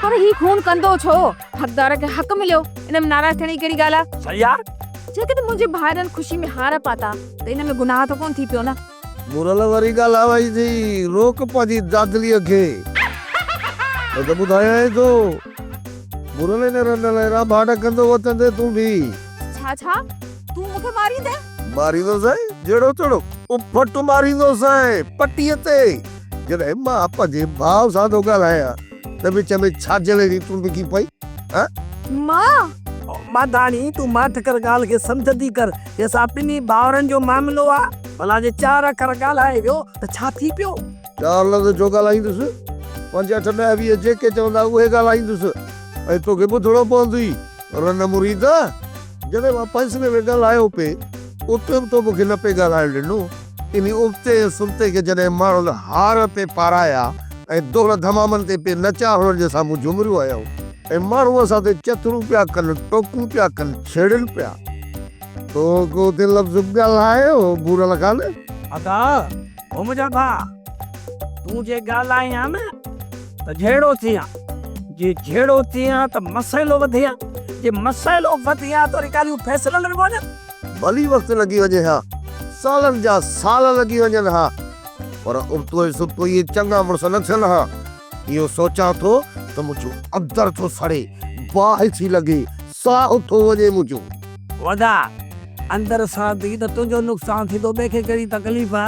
پر هي خون ڪندو ڇو؟ حقدار کي حق مليو، ان ۾ ناراض ٿيڻ جي ڪهڙي ڳالهه آ؟ شهريار! جيڪڏهن منهنجي ڀائرن خوشي ۾ هار پاتا ته ان ۾ گناهه ته ڪونه ٿي پيو نه؟ مورل واري ڳالهه آ وئي ٿي، روڪ پنهنجي دادليء کي. هو ته ٻڌايانء ٿو. مورل ان رنڊ لاء رانڀاٽ ڪندو وتن تي تون بيهه. ڇا ڇا؟ تون مون کي ماريندين؟ ماريندوسانء جهڙو تهڙو اڦٽ ماريندوسانء پٽيء تي. جڏهن مان پنهنجي ڀاء سان ٿو ڳالهايان ته وچ ۾ ڇا جلي جي تند ٿي پئي ها؟ مان! ماڌاڻي تون ماٺ ڪر ڳالهه کي سمجهندي ڪر هي اسان ٻنهي ڀائرن جو معاملو آ ڀلا جي چار اکر ڳالهائي ويو ته ڇا ٿي پيو؟ چار لفظ ڇو ڳالهائيندس پنج اٺ ڏهه ويهه جيڪي چوندا اهي ڳالهائيندس ۽ توکي ٻڌڻو پوندوئي رنه مريده. جڏهن مان پنسلين ۾ ڳالهايو پي، اتي به تو مون کي نه پئي ڳالهائڻ ڏنو. انهي ابتي ۽ سبتي کي جڏهن ماڻهن هار پئي پارايا ۽ دهل ڌمامن تي پئي نچا هڻڻ جي سامهون جهومريون هيائون ۽ ماڻهو اسان تي چٿرون پيا ڪن، ٽوڪون پيا ڪن، ڇيڙن پيا. تو ڪو اتي لفظ به ڳالهايو، ڀورل خان؟ ادا! هو منهنجا ڀاء. تون جي ڳالهائين ها نه ته جهيڙو ٿئين ها، جي جهيڙو ٿئين ها ته مسئلو وڌي ها، جي مسئلو وڌي ها ته وري ڳالهيون فيصلن ۾ پونديون. ڀلي وقت لڳي وڃي ها، سالن جا سال لڳي وڃن ها، پر ابتوء سبتوء اهي چڱا مڙس نه ٿين ها. اهو سوچان ٿو ته منهنجو اندر ٿو سڙي، باهه ٿي لڳي، ساهه ٿو وڃي منهنجو. ودا، اندر ساهه ٿي ته تنهنجو نقصان ٿيندو، ٻئي کي ڪهڙي تڪليف آ؟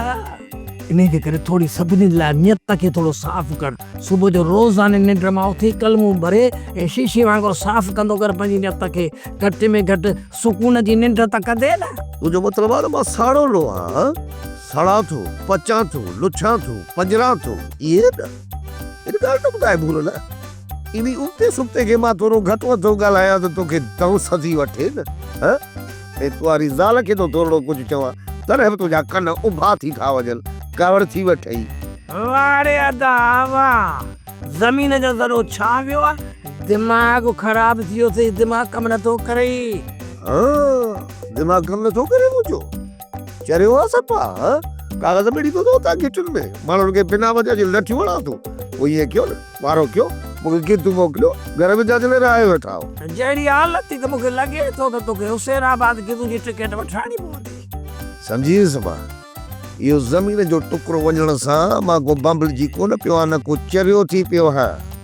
انهيء جي ڪري ٿوري سڀني لاء نيت کي ٿورو صاف ڪر. صبح جو روزاني ننڊ مان اٿي ڪلمون ڀري ۽ شيشي وانگر صاف ڪندو ڪر پنهنجي نيت کي. گهٽ ۾ گهٽ سڪون جي ننڊ ته ڪندين. تنهنجو مطلب آ ته مان ساڙولو آهيان؟ سڙان ٿو، پچان ٿو، لڇان ٿو، پنجران ٿو. ائين نه؟ ان ڳالهه جو ٻڌاء ڀول نه. انهي ابتي سبتي کي مان ٿورو گهٽ وڌ ٿو ڳالهايان ته توکي دنس اچي وٺي نه. ها؟ ۽ تو واري زال کي ٿو ٿورڙو ڪجهه چوان تڏهن به تنهنجا ڪن اڀا ٿي ٿا وڃن. ڪاوڙ ٿي وٺئي. واڙي ادا اوا زمين جو ذرو ڇا ويو آ؟ دماغ خراب ٿي ويو اٿئي دماغ ڪم نه ٿو ڪرئي. ها دماغ ڪم نه ٿو ڪري منهنجو. چريو آ سپا ها ڪاغذ ۾ ڏيندو ٿو اتان گهٽين ۾ ماڻهن کي بنا وجهه جي لٺيون هڻان ٿو پوء ايئن ڪيو نه وارو ڪيو مون کي گدو موڪليو گهر ۾ جاچ لاء رهائي ويٺا آهو. جهڙي حالت ٿي ته مون کي لڳي ٿو ته توکي حسين آباد گدو جي ٽڪيٽ وٺرائڻي پوندي. سمجهي ويس سپا اهو زمين جو ٽڪرو وڃڻ سان مان ڪو بنبلجي ڪونه پيو آهيان نه ڪو چريو ٿي پيو آهيان.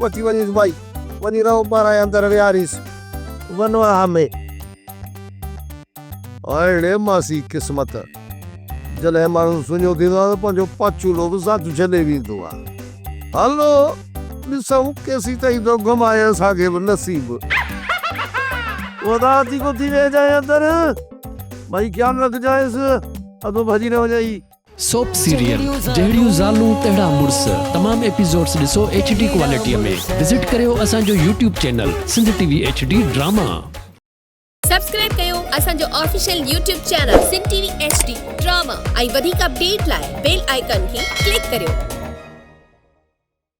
وٺي وڃيس ٻائي، وڃي رهو ٻاراهين اندر ويهاريس ونواهه ۾. اڙي ماسي قسمت، جڏهن ماڻهو سڃو ٿيندو آهي ته پنهنجو پاڇولو به ساٿ ڇڏي ويندو آهي. هلو ڏسون ڪيسين تائين ٿو گهمائي اسان کي به نصيب. خدا ٿي ڪو ٿي ويهجانء اندر، ٻائي خيال رکجانءس، اڌو ڀڄي نه وڃئي. سوپ سيريل جهڙيون زالون تهڙا مڙس تمام ايپيسوڊس ڏسو ايڇ ڊي ڪوالٽيء ۾ وزٽ ڪريو اسان جو YouTube channel Sindh T V H D drama. Subscribe ڪيو اسان جو official YouTube channel Sindh T V H D drama ۽ وڌيڪ اپڊيٽ لاء بيل آئيڪان کي ڪلڪ ڪريو.